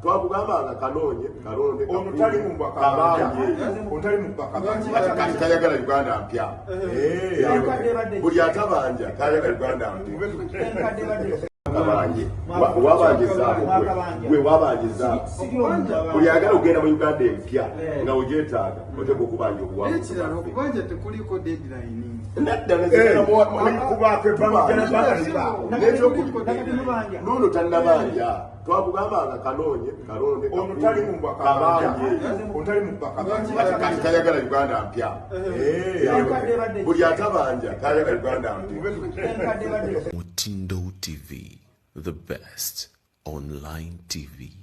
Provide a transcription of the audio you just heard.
twakugamba nga kanoonye kalonde tayagala uganda mpya buli atabanja tayagala uganda mpya wabanje wabanje zaabu gwe wabanje zaabu buli agala okugenda mu uganda empya eh. nga ogyetaaga oteeka okubanja obuwakirala okubanja tekuliko deadline naddala twakugambanga kanoonye kalonde kayagala uganda mpya buli atabanja kayagala uganda mpyamutindo tv the best online tv